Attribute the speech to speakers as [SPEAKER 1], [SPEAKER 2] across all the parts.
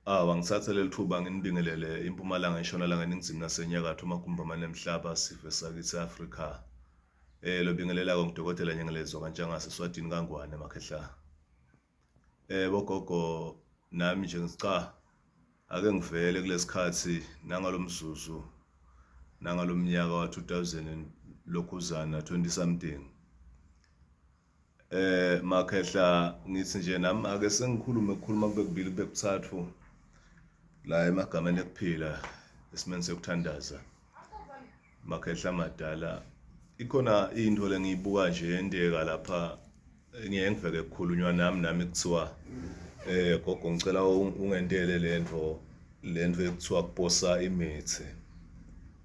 [SPEAKER 1] Awu angithathe leli thuba nginibingelele impumalanga, intshonalanga, eningizimu nasenyakatho, amagumbi amane emhlaba, sive sakithi e-Afrika. Eh lobingelela-ke ngudokotela Nyengelezwa kaNtshangase Swatini kaNgwane makhehla. Eh bogogo nami nje ngica ake ngivele kulesikhathi nangalomzuzu nangalomnyaka wa-2000 lokhuzana 20 something. Eh makhehla ngithi nje nami ake sengikhulume kukhuluma kube kubili kube kuthathu la emagameni ekuphila esimeni sekuthandaza makhehla madala ikhona into lengiyibuka nje yenteka lapha ngiye ngiveke kukhulunywa nami nami kuthiwa eh gogo ngicela ungentele lento lento ekuthiwa kuposa imithi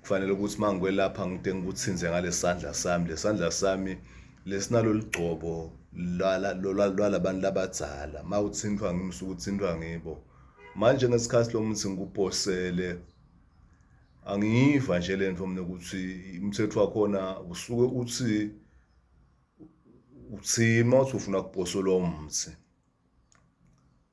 [SPEAKER 1] kufanele ukuthi uma ngikwelapha ngide ngikuthinze ngalesandla sami lesandla sami lesinalo ligcobo lwalabantu labadzala uma uthintwa ngimi usuke uthintwa ngibo manje ngesikhathi lo muthi ngikuposele angiyiva nje le nto mina ukuthi umthetho wakhona usuke uthi uthima uthi ufuna kuposelwa umthi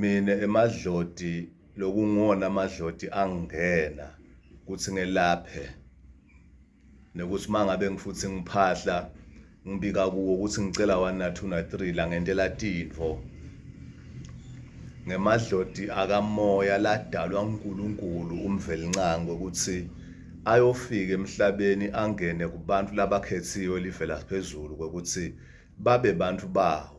[SPEAKER 1] Mina emadloti lokunguwona amadloti angingena ukuthi ngelaphe nokuthi uma ngabe ngifuthi ngiphahla ngibika kuwo ukuthi ngicela one na two na three la ngentela tinfo ngemadloti akamoya ladalwa uNkulunkulu umvelincango ukuthi ayofika emhlabeni angene kubantu labakhethiwe livela phezulu kokuthi babe bantu bawo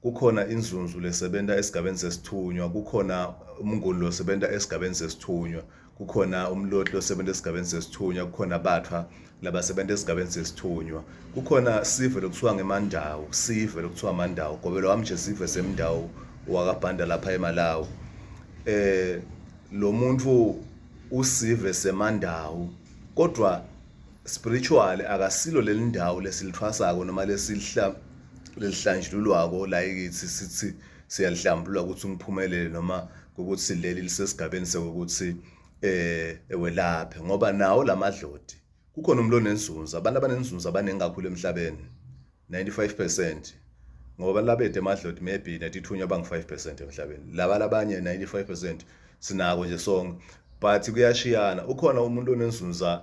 [SPEAKER 1] kukhona inzunzu lesebenza esigabeni sesithunywa kukhona umnguni losebenza esigabeni sesithunywa kukhona umlotli losebenza esigabeni sesithunywa kukhona bathwa labasebenza esigabeni sesithunywa kukhona sive lokuthiwa ngemandawo sive lokuthiwa mandawo gobelo wami nje sive semndawo wakabhanda lapha emalawi eh lo muntu usive semandawo kodwa spiritual akasilo lelindawo lesilithwasako noma lesihla lelihlanjululwako la ekithi sithi siyalihlambulula ukuthi ngiphumelele noma ukuthi leli lisesigabeni sokuthi eh ewelaphe ngoba nawo lamadlodi kukhona umuntu onenzunza abantu abanenzunza abaningi kakhulu emhlabeni 95% ngoba labede emadlodi maybe natithunywa bangu 5% emhlabeni laba labanye 95% sinako nje sonke but kuyashiyana ukhona umuntu onenzunza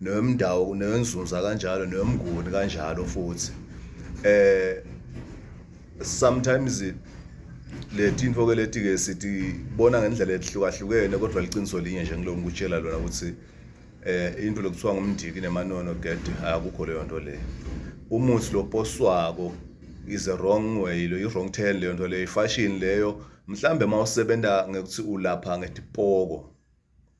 [SPEAKER 1] newemndawo newenzunza kanjalo newemnguni kanjalo futhi eh sometimes leti info ke leti ke sithi bona ngendlela ehlukahlukene kodwa liqiniso linye nje ngilokhu ngikutshela lona ukuthi eh into lokuthiwa ngumndiki nemanono get akukho leyo nto le umuthi loposwako is a wrong way lo i-wrong turn leyo nto leyo ifashion leyo mhlambe uma usebenza ngekuthi ulapha ngetipoko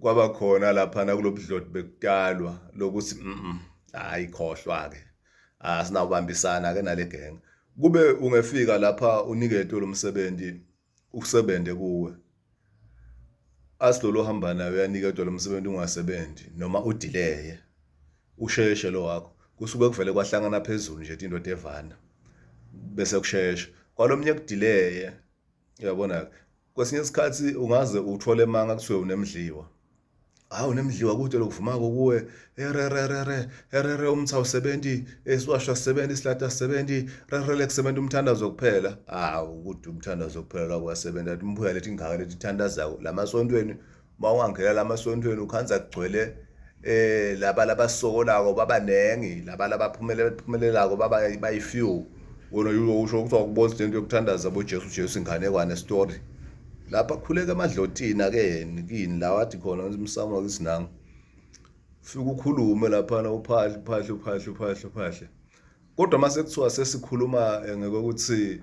[SPEAKER 1] kwaba khona laphana kulobudloti bekutalwa lokuthi mhm hayi khohlwa ke asinawubambisana ke nale gang kube ungefika lapha uniketwe lomsebenzi usebenze kuwe asilolo hamba nayo uyaniketwa lo msebenzi ungasebenzi noma udileye usheshe lo wakho kusuke kuvele kwahlangana phezulu nje indoda evana bese kushesha kwalomnye kudileye uyabona kwesinye isikhathi ungaze uthole manga kuthiwe unemdliwa hawu nemdliwa kude lokuvumako kuwe erererere erere umtha usebenzi esiwasho sisebenzi isilata sisebenzi rerele kusebenza umthandazo kuphela hawu kude umthandazo kuphela kwasebenza imbuya lethi ingaka lethi thandazayo lamasontweni uma ungangena la masontweni ukhanza kugcwele eh laba labasokolako babaningi laba labaphumelelako baba bayifew wona usho ukuthi wakubona into yokuthandaza boJesu Jesu inganekwane story lapha khuleka emadlotini ake yena kini la wathi khona umsamo wakisinanga ufike ukhulume laphana uphahle uphahle uphahle uphahle uphahle kodwa mase kuthiwa sesikhuluma eh, ngeke ukuthi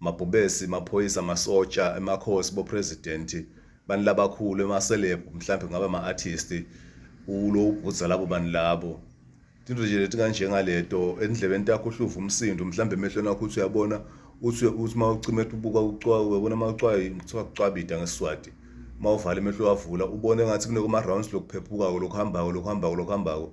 [SPEAKER 1] mabhubesi maphoyisa masotsha emakhosi bo-president bantu labakhulu ema-celeb mhlawumbe kungaba ama-artist ulo ubhudza labo bantu labo into nje leti kanjengaleto endlebeni takho uhluva umsindo mhlawumbe emehlweni akho uthi uyabona uthi uthi uma ucima ubuka ucwayo uyabona uma ucwayo kuthiwa kucwabida ngesiswati uma uvala emehlo wavula ubone ngathi kunokuma-rounds lokuphephuka-ko lokuhambako lokuhambako lokuhambako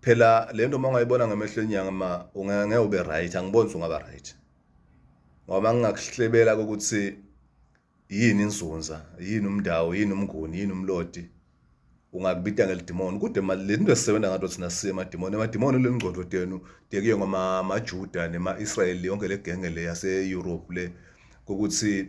[SPEAKER 1] phela lento uma ungayibona ngamehlo enyanga ma ungeke ube right angiboni ungaba right ngoba ngingakuhlebela ukuthi yini inzunza yini umndawo yini umnguni yini umlodi ungakubita ngelidimoni kude mali le nto esisebenza ngato thina siye emadimoni emadimoni le ngcondo tenu tekuye ngama-majuda nema-israyeli yonke le genge le yase-europe le ukuthi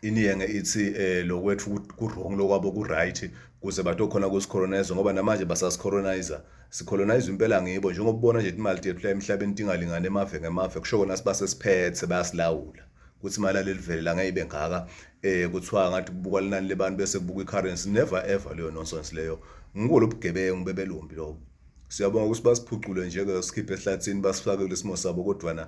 [SPEAKER 1] iniyenge ithi eh lokwethu kurong lokwabo kuright kuze batokhona kusicolonizer ngoba namanje basasicolonizer sicolonize impela ngibo njengoba ubona nje imali yethu la emhlabeni tingalingane emave ngemave kusho kona sibase siphethe bayasilawula ukuthi imali alelivele la ngeke ngaka eh kuthiwa ngathi kubuka linani lebantu bese kubuka icurrency never ever leyo nonsense leyo ngikulo bugebengu bebelombi lobo siyabonga ukuthi basiphucule nje ke sikhiphe ehlathini basifake kulesimo sabo kodwa na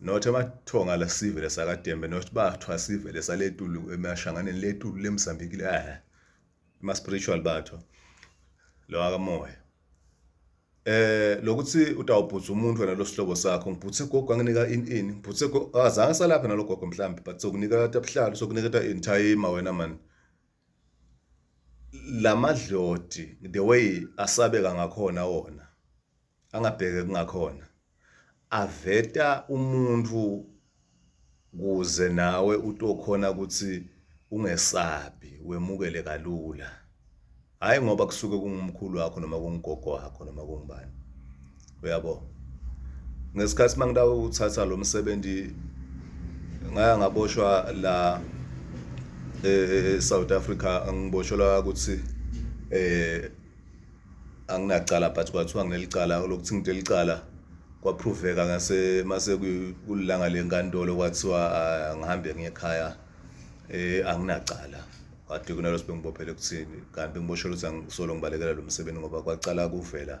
[SPEAKER 1] not amathonga la sivele sakadembe not bathwa sivele saletulu emashanganeni letulu lemsambikile ah ma spiritual batho lo akamoya eh lokuthi utawubhutha umuntu wena losihlobo sakho ngibhuthe gogo anginika in in ngibhuthe azange salapha nalogogo mhlambi but sokunika tabuhlalo sokunika ta in time wena man La madloti the way asabeka ngakhona wona angabheke kungakhona aveta umuntu kuze nawe utokhona ukuthi ungesabi wemukele kalula, hhayi ngoba kusuke kungumkhulu wakho noma kungugogo wakho noma kungubani. uyabo ngesikhathi mangitawuthatha lo msebenzi ngaya ngaboshwa la e-South Africa ngiboshelwa ukuthi eh anginacala but kwathiwa nginelicala lokuthi ngidelicala kwaphroveka ngase mase kulilanga lenkantolo kwathiwa ah, ngihambe ngiye ekhaya eh anginacala kade kunalo sibengibophele kuthini kanti ngiboshelwa ukuthi angisolo ngibalekela lo msebenzi ngoba kwacala kuvela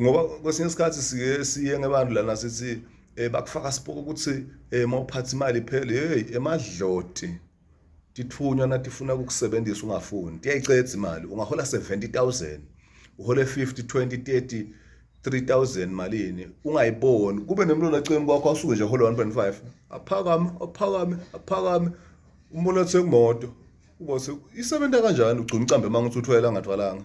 [SPEAKER 1] ngoba kwesinye isikhathi siye siye ngebantu lana sithi eh bakufaka sipoko ukuthi eh mawuphatha imali phele hey emadloti tithunywa nathi funa ukukusebenzisa ungafuni tiyayicedza imali ungahola 70000 uhole 50 20 30 3000 malini ungayiboni kube nemlona eceni kwakho asuke nje hola 1.5 aphakame aphakame aphakame umuntu othenga imoto ubothi isebenza kanjani ugcina ucambe manga uthi uthwele angathwalanga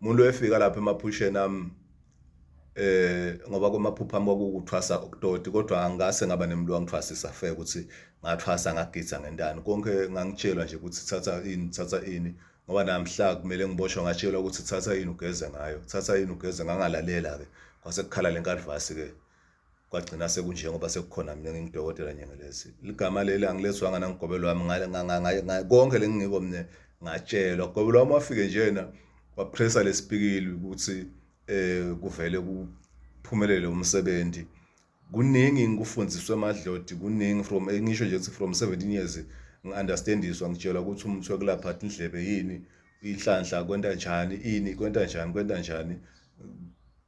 [SPEAKER 1] umuntu efika lapha emaphusheni ami eh ngoba kwamaphupha ami kwakukuthwasa okutoti kodwa angase ngaba nemntu wangithwasisa fe ukuthi ngathwasa ngagidza ngentani konke ngangitshelwa nje ukuthi thatha ini thatha ini ngoba namhla kumele ngiboshwe ngatshelwa ukuthi thatha ini ugeze ngayo thatha ini ugeze ngangalalela-ke kwase kukhala le nkadivasi-ke kwagcina sekunjengoba sekukhona mina ngingudokotela nyengelezi ligama leli angilezwanga nangigobelo wami konke lengingiko mina ngatshelwa gobelo wami wafike njena wapressa lesipikili ukuthi eh kuvele kuphumelele umsebenzi kuningi ngikufundiswe amadlodi kuningi from ngisho nje ukuthi from 17 years ngi-understandiswa ngitshelwa ukuthi umuthi wekulapha athi indlebe yini inhlanhla kwenta njani ini kwenta njani kwenta njani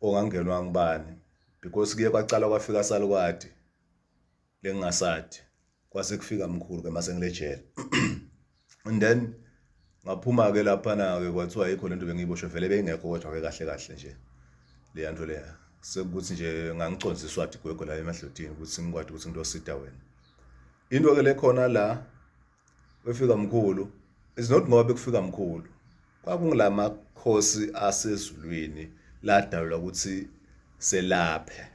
[SPEAKER 1] ongangenwa ngubani because kuye kwacala kwafika salukwadi lengingasadi kwase kufika mkhulu ke mase ngilejele and then ngaphuma ke lapha na ke kwathiwa ayikho lento bengiyiboshwe vele beyingekho kodwa ke kahle kahle nje leya nto leya sekuthi nje ngangiconza iswadi gwegwe la emadlotini ukuthi ngikwadi ukuthi ngitosita wena into ke lekhona la Wefika mkhulu is not ngoba bekufika mkhulu kwakungilama khosi asezulwini ladalula ukuthi selaphe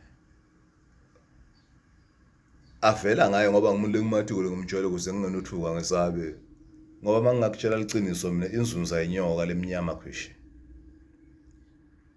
[SPEAKER 1] avela ngayo ngoba ngimuntu engimathukule ngimtshela ukuze ngingenothuka ngesabe ngoba uma ngingakutshela liqiniso mina inzunza inyoka lemnyama khwishi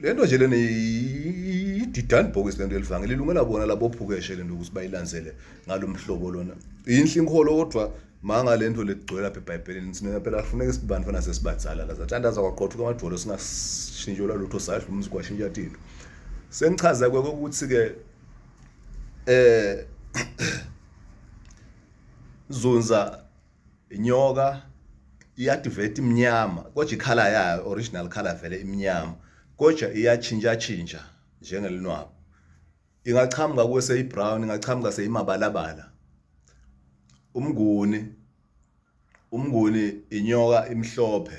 [SPEAKER 1] le nto nje lena ididani bhokisi le nto elivangeli ilungela bona labophukeshe le nto ukuthi bayilandzele ngalo mhlobo lona yinhle inkholo kodwa manga le nto legcwela apha ebhayibhelini sina phela kufuneka isibani fana sesibadzala la sathandaza kwaqothuka amajolo singashintshelwa lutho sadla umzi kwashintsha tinto sengichaza kweke ukuthi-ke eh zunza inyoka iyadiveti imnyama kodwa ikhala yayo original color vele imnyama kodwa iyatshintsha tshintsha njengelinwabo ingaqhamuka kuwe seyibrown ingaqhamuka seyimabalabala umnguni umnguni inyoka imhlophe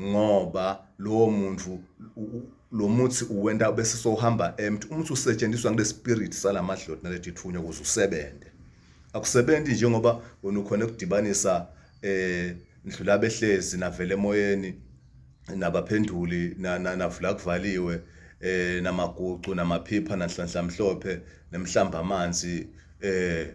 [SPEAKER 1] ngoba lowo muntu lo muthi uwenta bese sohamba empty umuthi usetshenziswa ngile spirit salamadloti naleti thunywa ukuze usebenze akusebenzi njengoba wena ukhona ukudibanisa eh ndlula behlezi navele emoyeni nabaphenduli navula kuvaliwe eh namagucu namaphipha nanhlanhla mhlophe nemhlamba amanzi eh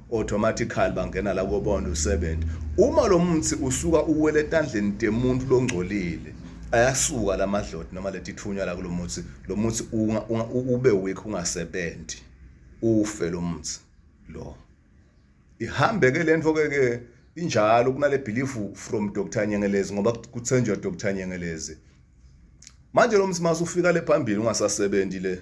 [SPEAKER 1] automatically bangena la kobona usebenza uma lo muthi usuka uwele etandleni temuntu longcolile ayasuka la madloti noma letithunywa la kulomuthi lo muthi ube weak ungasebenzi ufe lo muthi lo ihambe ke lento ke ke injalo kunale belief from Dr Nyengelezi ngoba kuthenjwa Dr Nyengelezi manje lo muthi masufika le phambili ungasasebenzi le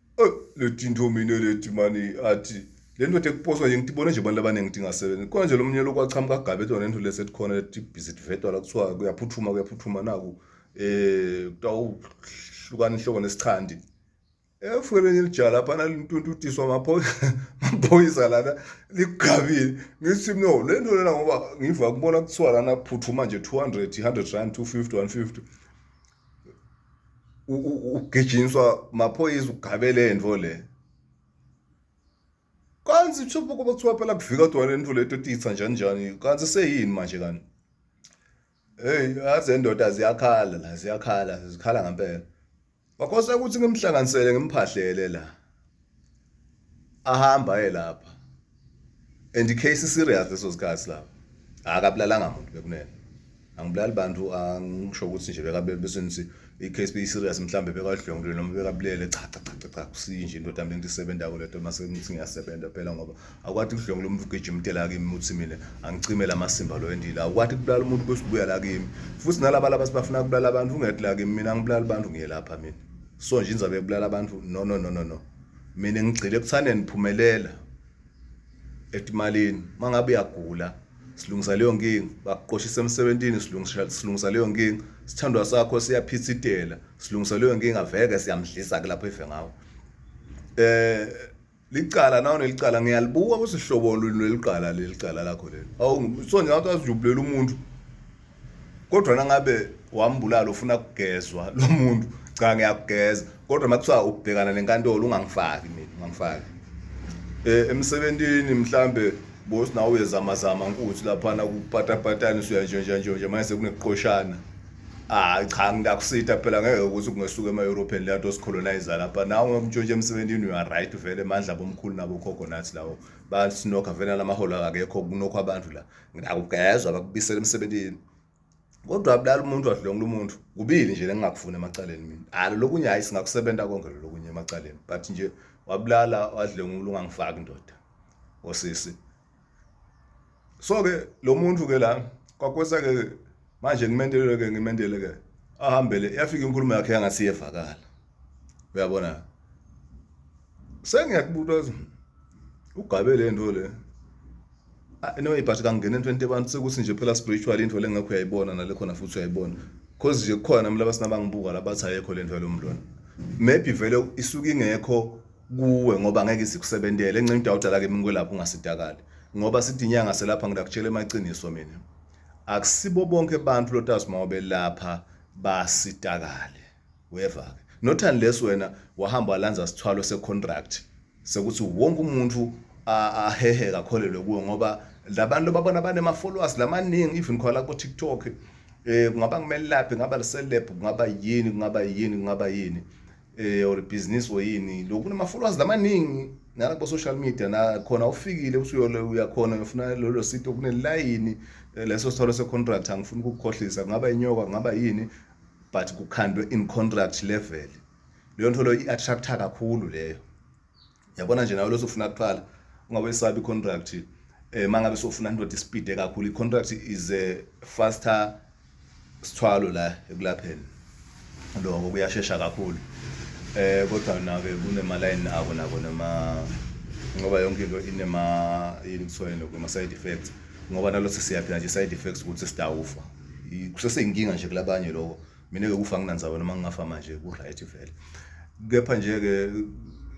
[SPEAKER 1] leti ntomino leti mani athi le ndoda ekuposwa nje ngitibone nje abantu abaningi ukuthi ingasebenzi khona nje lo mnyelo okwaqhamuka agabe lona into lesetikhona leti busy divetwa la kuthiwa kuyaphuthuma kuyaphuthuma naku um eh, kutawuhlukana inhloko nesichandi efukele eh, nje lapha nalintuntutiswa maphoyisa lana ligabile ngithi no le nto lena ngoba ngiva kubona kuthiwa lana phuthuma nje 200 100 rand 250 150 ugijinswa maphoyisa ugabele into le kanti uthupha kuba kuthiwa phela kuvika kodwa le nto leto titha njani njani kanti seyini manje kanti hey yaze ndoda ziyakhala la ziyakhala zikhala ngempela wakhosa ukuthi ngimhlanganisele ngimphahlele la ahamba aye lapha and icase serious leso sikhathi lapho akabulalanga muntu bekunene angibulali bantu angisho ukuthi nje bekabe besenzi i-case be serious mhlambe bekadlwengule noma bekabulele cha cha cha cha kusinje indoda mina ngisebenza ko leto mase ngithi ngiyasebenza phela ngoba akwati kudlwengula umuntu ugijima utela kimi uthi mina angicime lamasimba lo endile akwati kubulala umuntu bese ubuya la kimi futhi nalaba laba sibafuna kubulala abantu ungethi la kimi mina ngibulala abantu ngiyelapha mina so nje inzobe ebulala abantu no no no no no mina ngigcile ekuthandeni phumelela etimalini mangabe uyagula silungisa leyo nkinga bakuqoshisa emsebenzini silungisa silungisa leyo nkinga sithandwa sakho siyaphithitela silungisa leyo nkinga veke siyamdlisa ke lapho efe ngawo eh licala nawo nelicala ngiyalibuka ukuthi hlobo lwini lwelicala lelicala lakho lelo awu so nje ngathi azijubulela umuntu kodwa nangabe wambulala ufuna kugezwa lo muntu cha ngiyakugeza kodwa makuthiwa ubhekana nenkantolo ungangifaki mina ungangifaki eh emsebentini mhlambe boss nawe uyezama zama nkuthi laphana kupatapatani usuya nje nje nje manje sekuneqoshana Ah cha ngiyakusitha phela ngeke ukuthi kungesuka ema-european leya nto sicolonize lapha nawe ngomtshontsha emsebenzini you are right vele mandla bomkhulu nabo khokho nathi lawo basinokha vele nalamaholo akekho kunokho abantu la ngakugezwa bakubisela emsebenzini kodwa abulala umuntu adlongula umuntu kubili nje lengingakufuni emacaleni mina alo lokunye hayi singakusebenza konke lokunye emacaleni but nje wabulala wadlongula ungangifaki ndoda osisi so ke lo muntu ke la kwakwesa ke manje ngimendelele ke ngimendele ke ahambele yafika inkulumo yakhe yangasi yevakala uyabona sengiyakubuta ugabe le nto le ah, no ibhathi kangena entweni abantu sekuthi nje phela spiritual into lengekho uyayibona nale khona futhi uyayibona cause nje kukhona mlaba sinabangibuka labathi ayekho le nto yalomntwana maybe vele isuke ingekho kuwe ngoba ngeke isikusebentele encenye into awudala ke mina kwelapha ungasidakali ngoba sithi inyanga selapha ngidakutshela emaqiniso mina akusibo bonke abantu lotazi uma ubelapha basitakale weva ke not unless wena wahamba walanza sithwalo secontract sekuthi wonke umuntu ahehe kakholelwe kuwe ngoba labantu babona banema followers lamaningi even khona ku TikTok eh kungaba kumelaphi ngaba liselebhu kungaba yini kungaba yini kungaba yini eh or business or yini lokhu nama followers lamaningi nala ku social media na khona ufikile uthi uyole uyakhona ngifuna lolo sito kunelayini eh, leso sithole se contract angifuni ukukhohlisa ngaba inyoka ngaba yini but kukhandwe in contract level leyo nto leyo i-attracta kakhulu leyo yabona nje nawe losofuna kuqala ungabe isabi contract eh mangabe sofuna indoda ispeed kakhulu i contract is a faster sithwalo la ekulapheni lokho kuyashesha kakhulu eh kodwa nake kunema line abo nako noma ngoba yonke into inema yini kuthiwa lokho ama side effects ngoba nalotho siyaphila nje side effects ukuthi sidawufa kusese inkinga nje kulabanye lokho mina ke kufa nginandzaba noma ngingafa manje ku-right vele kepha nje-ke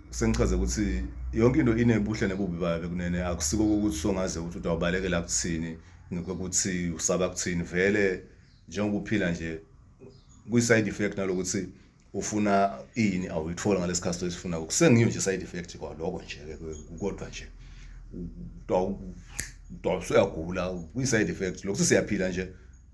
[SPEAKER 1] sengichaze ukuthi yonke into inebuhle nebubi bayo bekunene akusiko kokuthi songaze ukuthi utawubalekela kuthini ngokuthi usaba kuthini vele njengoba uphila nje kwi-side effect nalokuthi ufuna ini awuyithola ngalesi to esifuna kusengiyo nje side effect kwaloko nje kodwa nje utawusuyagula kwi-side effect lokuthi siyaphila nje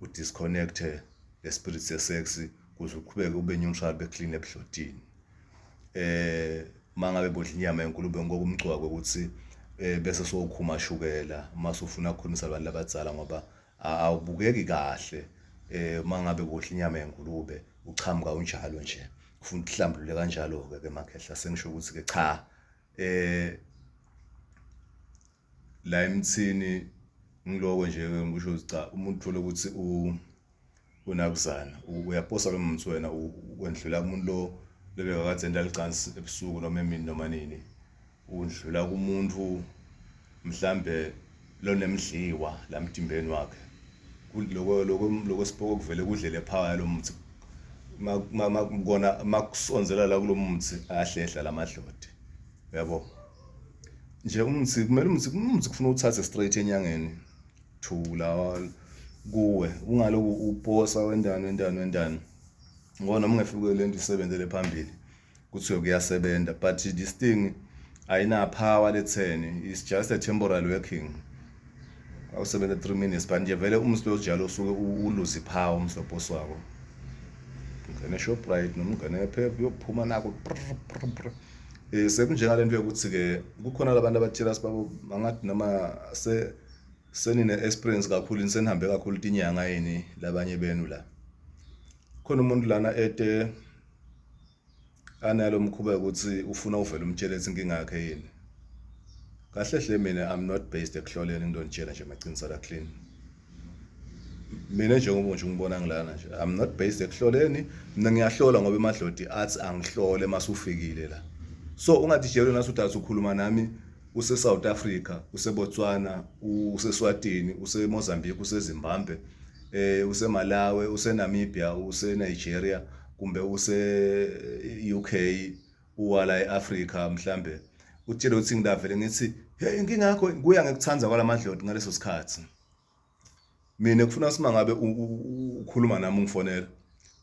[SPEAKER 1] udisconnecte le spirit se sex kuze uqhubeke ube neutral be clean ebhlotini eh mangabe bodla inyama yenkulume ngoba umgcwako ukuthi eh, bese sokhuma shukela mase ufuna ukukhulumisa abantu labadzala ngoba awubukeki kahle eh mangabe bodla inyama yenkulume uchamuka unjalo nje ufuna ukuhlambulule kanjalo ke ke makhehla sengisho ukuthi ke cha eh la emthini ngiloko nje ngisho ukuthi cha umuntu uthole ukuthi u unakuzana uyaposa lo muntu wena wendlula umuntu lo lebe kakade enda licansi ebusuku noma emini noma nini undlula kumuntu mhlambe lonemdliwa la mtimbeni wakhe kuloko lokho lokho sipoko kuvele kudlele phaya lo muntu makubona makusonzela la kulomuthi ahlehla lamadlodi uyabo nje umthi kumele umthi umthi kufuna uthathe straight enyangeni to lawa kuwe ungaloku uposa wendani wendani wendani ngoba noma ungefike le nto isebenzele phambili kuthiwe kuyasebenza but this thing ayina power letheni it's just a temporary working awusebenze 3 minutes but nje vele umslo ojalo usuke uluzi phawu umslo boss wako ngene shoprite noma ungene phep uyophuma nako eh sekunjengale nto yokuthi ke kukhona labantu abathela sibabo angathi noma se senine experience kakhulu nisenihambe kakhulu tinyanga yini labanye benu la khona umuntu lana ete analo mkhuba ukuthi ufuna uvele umtshele ukuthi inkinga yakhe yini kahle hle mina i'm not based ekuhloleni into ngitshela nje maqiniso la clean mina njengoba nje ngibona ngilana nje i'm not based ekuhloleni mina ngiyahlola ngoba emadlodi athi angihlole masufikile la so ungathi jelo nasuthi asukhuluma nami use South Africa use Botswana use Swatini use Mozambique use Zimbabwe eh use Malawi use Namibia use Nigeria kumbe use-UK uwala e-Afrika mhlambe utshele ukuthi ngidavele ngithi hey inkinga yakho kuya ngekuthanda kwalamadloti ngaleso sikhathi mina kufuna sima ngabe ukhuluma nami ungifonela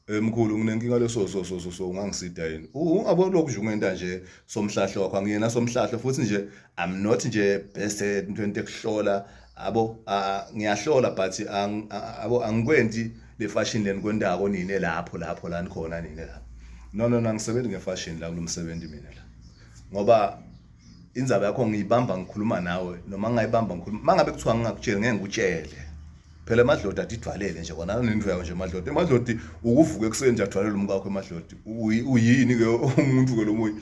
[SPEAKER 1] eh, mkhulu nginenkinga leso so so so so ungangisida yini ungabo lokhu nje ungenta nje somhlahlo wakho angiyena somhlahlo futhi nje i'm not nje best into ekuhlola abo ngiyahlola but abo angikwenzi le fashion leni kwendako nine lapho lapho la nikhona nine lapho no no nangisebenzi ngefashion la kulomsebenzi mina la ngoba indzaba yakho ngiyibamba ngikhuluma nawe noma ngingayibamba ngikhuluma mangabe kuthiwa ngingakutsheli ngeke ngikutshele phela amadlodi adidwalele nje kona anento yawo nje amadlodi amadlodi ukuvuka ekuseni nje adwalele umkakho emadlodi uyini ke umuntu ke lomunye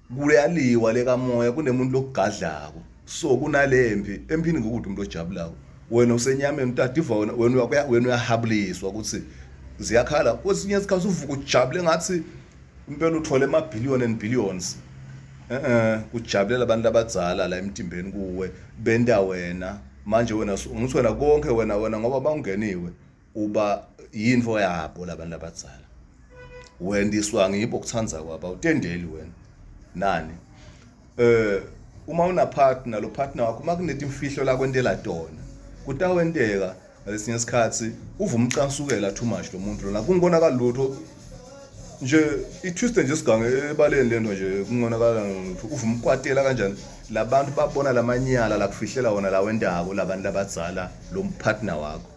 [SPEAKER 1] kuyaliwa lekamoya kunemuntu lokugadlako so kunalempi empini ngokuthi umuntu ojabulayo wena usenyameni utadiva wena wena wena uyahabuliswa ukuthi ziyakhala kwesinye isikhathi uvuka ujabule ngathi impela uthole ama billion and billions eh kujabulela abantu abadzala la emtimbeni kuwe benta wena manje wena ngithi wena konke wena wena ngoba bawungeniwe uba yinto yabo labantu abadzala wendiswa ngibo kuthanda kwabo awutendeli wena nani eh uma una partner lo partner wakho uma kunetimfihlo la kwentela tona kutawenteka ngalesinye isikhathi uva umcansukela too much lo muntu lona kungonakala lutho nje itwiste nje sigange ebaleni lento nje kungonakala lutho uva umkwatela kanjani labantu babona lamanyala lakufihlela wona lawendako labantu labadzala lo partner wakho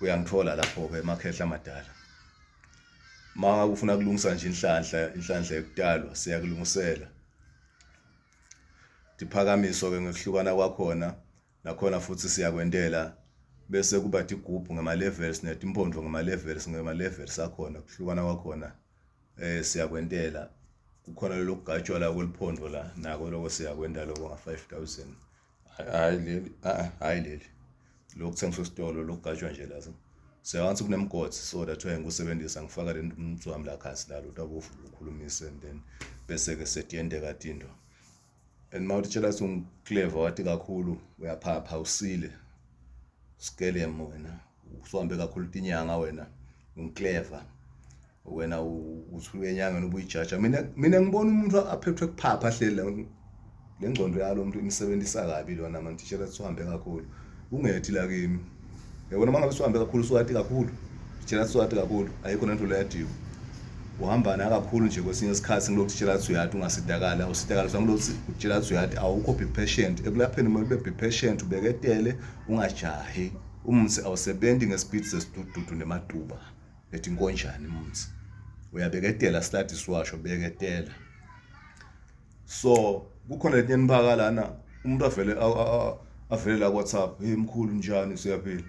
[SPEAKER 1] uyangithola lapho-ke emakhehla amadala ma ufuna kulungisa nje inhlanhla inhlanhla yokutalwa siyakulungisela diphakamiso-ke ngokuhlukana kwakhona nakhona futhi siyakwentela bese kuba tigubhu ngema-levels netimpondo ngema-levels ngema-levels akhona kuhlukana kwakhona eh siyakwentela kukhona lokugajwa la kweliphondo la nako loko siyakwenta loko nga-5000 hayi leli a ah, hayi leli lokuthengiswa esitolo lokugajwa nje lazo seyangathi kunemgodi so that why ngikusebenzisa ngifaka le mntu wami la khasi la lutho abofu ukhulumise and then bese-ke setiyendeka tinto and uma utshela ukuthi ungicleva wathi kakhulu uyaphapha usile skelem wena usuhambe kakhulu tinyanga wena ungicleva wena uthi uyenyangeni ubuyijaja mina mina ngibona umuntu aphethwe kuphapha ahleli le ngcondo yalo muntu imsebenzisa kabi lona manje tishela sihambe kakhulu ungethi la kimi yabona mangabe sihambe kakhulu siwati kakhulu tishela siwati kakhulu ayikho nento leyadiwa uhamba naye kakhulu nje kwesinye isikhathi ngilokhu utshela ukuthi uyati ungasidakali awusidakali so ngilokhu utshela ukuthi uyati awukho be patient ekulapheni kumele ube be patient ubeketele ungajahi umthi awusebenzi ngespeed sesidududu nematuba ethi inkonjane mumzi uyabeketela study siwasho beketela so kukhona letinye nibaka lana umuntu avele avele la WhatsApp hey mkhulu njani siyaphila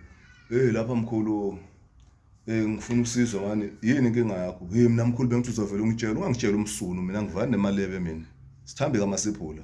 [SPEAKER 1] hey lapha mkhulu eh ngifuna usizo mani yini inkinga yakho hey mina mkhulu bengithuza vele ungitshela ungangitshela umsunu mina ngivane nemalebe mina sithambi kamasiphula